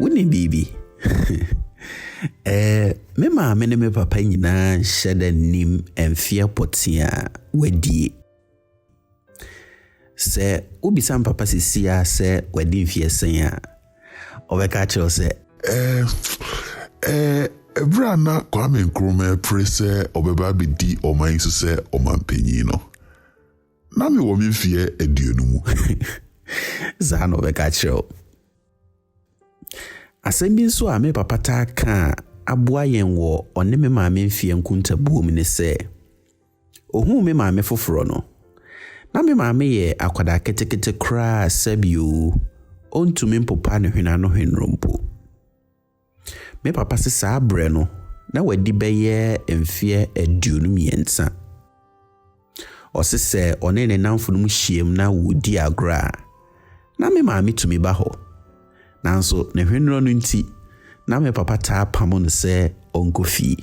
Wonim biribi? eh, me maame ne me papa nyinaa nhyɛ da nim mfeɛ pɔtee a wadie. Sɛ wobisa me papa sisi a sɛ wadi mfeɛ sɛn a, ɔbɛka kyerɛ wo sɛ eh, eh, ɛberɛ a na Kwame Nkrumah apere sɛ ɔbɛba abɛdi ɔman yi so sɛ ɔmanpanyin no, na mewɔ me mfeɛ aduonu mu. Saa na ɔbɛka kyerɛ wo. Asɛm bi nso a me papa taa ka a aboa yɛn wɔ ɔne me maame mfeɛ nkontabuo mu ne sɛ, ohuu me maame foforɔ no, na me maame yɛ akwadaa ketekete koraa sɛbio, ɔntumi mpopa ne hwenaanohwenro mpo. Me papa se saa berɛ no, na wadi bɛyɛ mfeɛ aduonu mmiɛnsa. Ɔse sɛ ɔne ne nnamfonom hyiam na wɔredi agorɔ a, na me maame tumi ba hɔ. Nanso ne hweneɛ no nti, na me papa taa pamo no sɛ ɔnkɔ fie.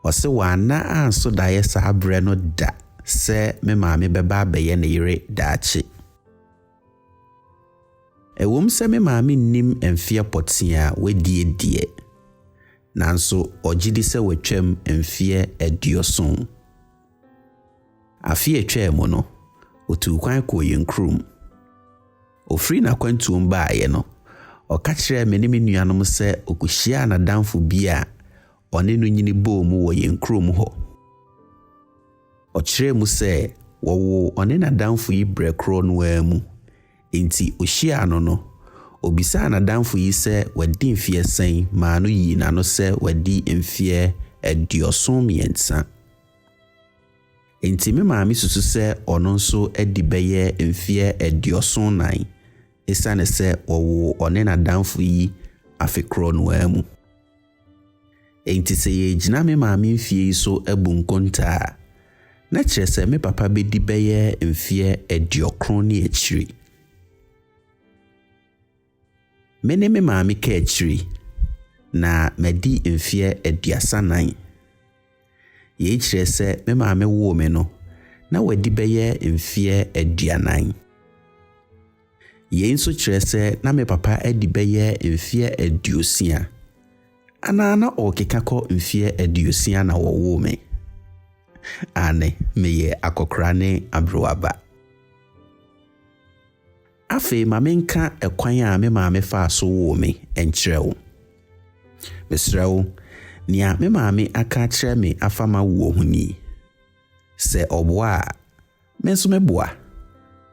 Ɔse wanna anso daeɛ saa berɛ no da sɛ me maame bɛba abɛyɛ ne yere daakye. Ɛwom sɛ me maame nnim mfeɛ pɔtee a wadi deɛ, nanso ɔgye di sɛ watwam mfeɛ aduoson. Afe a ɛtwaa mu no, ɔtuu kwan kɔɔ yɛn kurom. Ɔfiri n'akwantuom baeɛ no, ɔka kyerɛɛ me ne me nuanom sɛ ɔkɔhyiaa n'adamfo bi a ɔne no nyini bɔɔ mu wɔ yɛn kurom hɔ. Ɔkyerɛɛ mu sɛ wɔwoo ɔne n'adamfo yi berɛ korɔ no ara mu. Enti ɔhyiaa no no, ɔbisaa n'adamfo yi sɛ wadi mfeɛ sɛn maa no yii n'ano sɛ wadi mfeɛ aduɔson mmiɛnsa. Enti me maame susu sɛ ɔno nso adi bɛyɛ mfeɛ aduɔson nnan ɛsiane sɛ wɔwoo ɔne n'adamfo yi afe korɔ no ara mu. Enti sɛ yɛregyina me maame mfeɛ yi so abu nkontaa a, na kyerɛ sɛ me papa bɛdi bɛyɛ mfeɛ aduɔkron ne akyiri. Me ne me maame ka akyiri, na madi mfeɛ aduasa nan. Yei kyerɛ sɛ me maame woo me no, na wadi bɛyɛ mfeɛ aduanan. Yei nso kyerɛ sɛ na me papa adi bɛyɛ mfeɛ aduosia anaa na ɔrekeka kɔ mfeɛ aduosia na wɔwoo me. Aane, meyɛ akɔkora ne aberewa ba. Afei ma menka ɛkwan a me maame faa so woo me nkyerɛ wo. Mesrɛ wo, nea me maame aka akyerɛ me afa m'awoɔ ho ni, Sɛ ɔboa a, me nso mɛboa,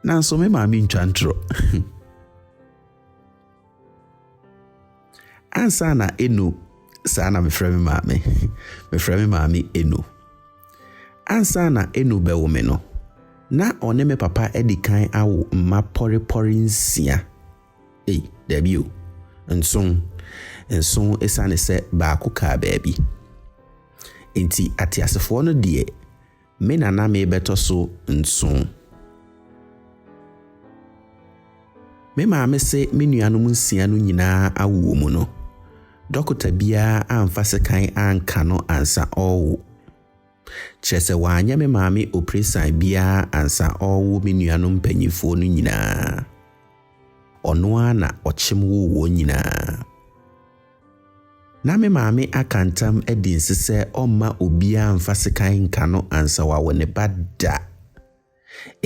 nanso me maame ntwa ntoro. Ansa na Eno, saa na mefrɛ me maame. Mefrɛ me maame Eno. Ansa na Eno bɛwo me no, na ɔne me papa adi kan awo mma pɔrepɔre nsia. Ei, daabi o, nson. Nson esiane sɛ baako kaa baabi. Enti ateasefoɔ no deɛ, Me na na merebɛtɔ so nson. Me maame se me nuanom nsia no nyinaa awo wɔ mu no, dɔkota biara amfa sekan anka no ansa ɔrewo. Kyerɛ sɛ wanyɛ me maame opresan biara ansa ɔrewo me nuanom mpanyimfoɔ no nyinaa. Ɔno ara na ɔkyem woo wɔn nyinaa. Ná me maame aka ntam adi nse sɛ ɔremma obiara mfa sekan nka no ansa wawo ne ba da.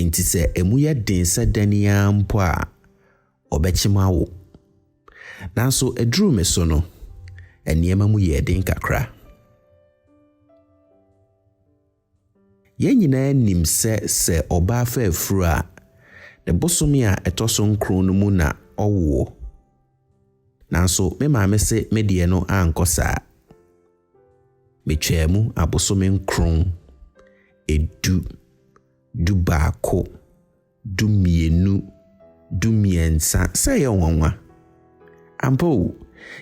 Enti sɛ emu yɛ den sɛ dɛn ara mpo a, ɔbɛkyem awo. Nanso eduruu me so no, nneɛma mu yɛɛ den kakra. Yɛn nyinaa nim sɛ sɛ ɔbaa fa afuru a, ne bosome a ɛtɔ so nkron no mu na ɔwoɔ. Nanso me maame se me deɛ no ankɔ saa. Metwaa mu abosome nkron, edu, dubaako, dumienu, dumiɛnsa, sɛ ɛyɛ nwanwa. Ampa o,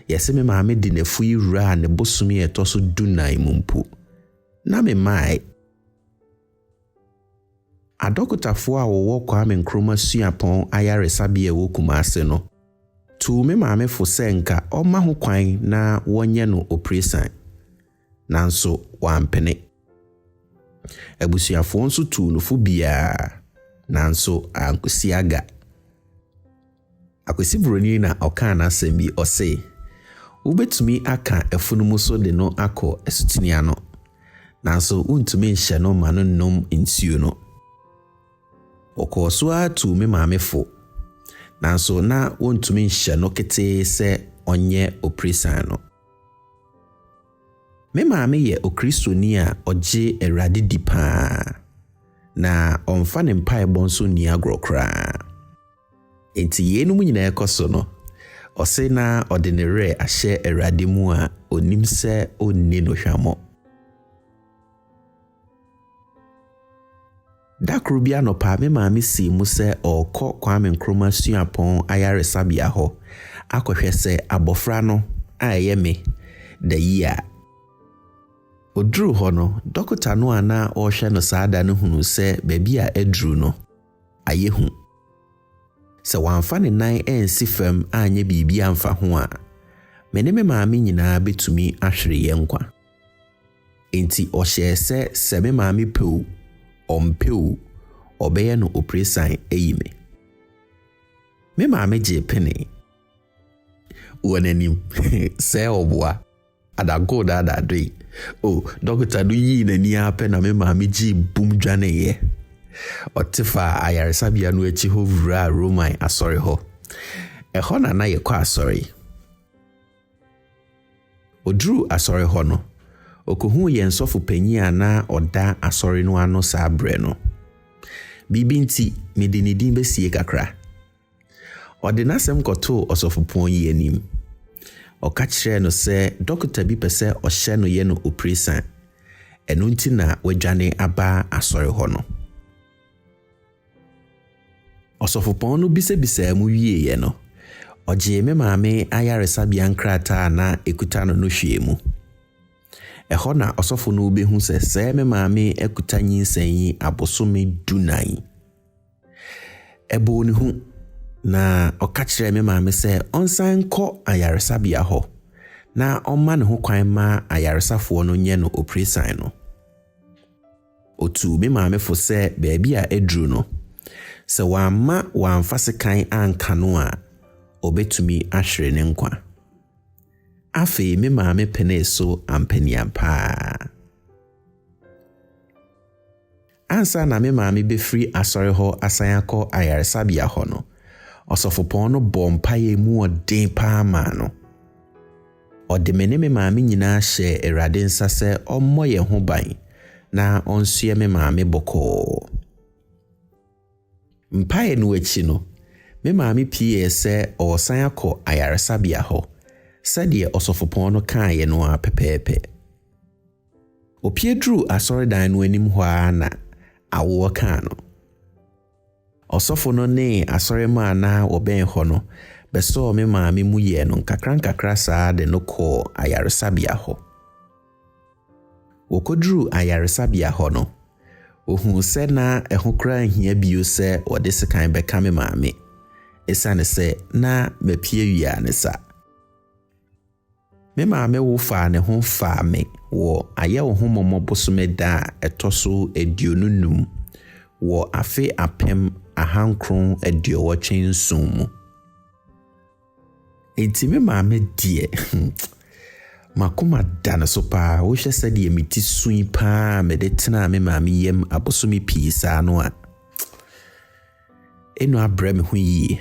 yɛse me maame de n'afui wuraa ne bosome a ɛtɔ so dunan mu mpo. Na memae. Adɔkotafoɔ a wɔwɔ Kwame Nkrumah Suapɔn Ayaresabea a ɛwɔ Kumasi no tuu me maame fo sɛ nka ɔmma ho kwan na wɔnyɛ no opresan. nanso wampene. Abusuafoɔ nso tuu no fo biara, nanso ankosi aga. Akwasi Buroni na ɔkaa n'asɛm bi, ɔse, Wobɛtumi aka afunumu so de no akɔ asutene ano, nanso wontumi nhyɛ no ma no nnom nsuo no. Wɔkɔɔ so ara tuu me maame fo, nanso na wɔntumi nhyɛ no ketee sɛ ɔnyɛ opresan no. Me maame yɛ Okristoni a ɔgye Awurade di paa, na ɔmfa ne mpaebɔ nso nni agorɔ koraa. Enti yeinom nyinaa rekɔ so no, ɔse na ɔde ne werɛ ahyɛ Awurade mu a ɔnim sɛ ɔnni no hwammɔ. Da koro bi anɔpa, me maame sii mu sɛ ɔrekɔ Kwame Nkrumah Suapɔn Ayaresabea hɔ akɔhwɛ sɛ abɔfra no a ɛyɛ me da yie. Ɔduruu hɔ no, dɔkota no a na ɔrehwɛ no saa da no hunuu sɛ baabi a aduru no, ayɛ hu. Sɛ wamfa ne nan ansi fam anyɛ biribi amfa ho a, me ne me maame nyinaa bɛtumi ahwere yɛn nkwa. Enti ɔhyɛɛ sɛ sɛ me maame pɛ o, ɔmpɛ o, ɔbɛyɛ no opresan ayi me. Me maame gyee penee wɔ n'anim sɛ ɔboa. Adagoo daadaadoe o. Dɔkota no yii n'ani ara pɛ na me maame gyee bum dwaneeɛ. Ɔte faa ayaresabea no akyi hɔ wuraa Roman asɔre hɔ. Ɛhɔ na na yɛkɔ asɔre. Oduruu asɔre hɔ no, okohuu yɛn sɔfo panyin a na ɔda asɔre no ano saa bere no. Biribi nti, mede ne din besiei kakra. Ɔde n'asɛm kɔtoo ɔsɔfopɔn yi anim. Ɔka kyerɛɛ no sɛ dɔkota bi pɛ sɛ ɔhyɛ no yɛ no opresan, ɛno nti na wadwane aba asɔre hɔ no. Ɔsɔfopɔn no bisabisaa mu wieeɛ no, ɔgyee me maame ayaresabea nkrataa a na ɛkuta no no hwɛɛ mu. Ɛhɔ na ɔsɔfo no bɛhu sɛ sɛɛ me maame akuta nyinsɛn yi abosome dunan. Ɛbɔɔ ne hu, na ɔka kyerɛɛ me maame sɛ ɔnsan nkɔ ayaresabea hɔ na ɔmma ne ho kwan ma ayaresafoɔ no nyɛ no opresan no. Otuu me maame fo sɛ baabi a aduru no, sɛ wamma wamfa sekan anka no a, obetumi ahwere ne nkwa. Afei me maame penee so ampanian paa. Ansa na me maame befiri asɔre hɔ asan akɔ ayaresabea hɔ no, ɔsɔfopɔn no bɔɔ mpaeɛ mu ɔden paa maa no. Ɔde me ne me maame nyinaa hyɛɛ Awurade nsa sɛ ɔmmɔ yɛn ho ban na ɔnsoɛ me maame bɔkɔɔ. Mpaeɛ no akyi no, me maame pieeɛ sɛ ɔresan akɔ ayaresabea hɔ, sɛdeɛ ɔsɔfopɔn no kaeɛ no ara pɛpɛɛpɛ. Ɔpue duruu asɔredan no anim hɔ ara na awoɔ kaa no. Ɔsɔfo no ne asɔremma a na wɔbɛn hɔ no bɛsɔɔ me maame mu yɛɛ no nkakrankakra saa de no kɔɔ ayaresabea hɔ. Wɔkɔduruu ayaresabea hɔ no, wɔhuu sɛ na ɛho koraa nhia bio sɛ wɔde sekan bɛka me maame, esiane sɛ na mapue wia ne sa. Me maame wo faa ne ho faa me wɔ Ayɛ Wo Ho Mmɔmmɔ bosome da a ɛtɔ so aduonu nnum wɔ afe apem ahankron aduowɔtwe nson mu. Enti me maame deɛ, hmm, makoma da no so paa. Wohwɛ sɛdeɛ me ti sui paa a mede tenaa me maame yam abosome pii saa no a, ɛnu abrɛ me ho yie.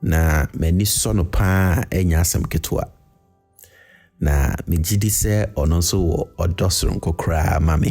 Na m'ani sɔ no paa a ɛnyɛ asɛm ketewa. Na megye di sɛ ɔno nso wɔ ɔdɔ soronko koraa ma me.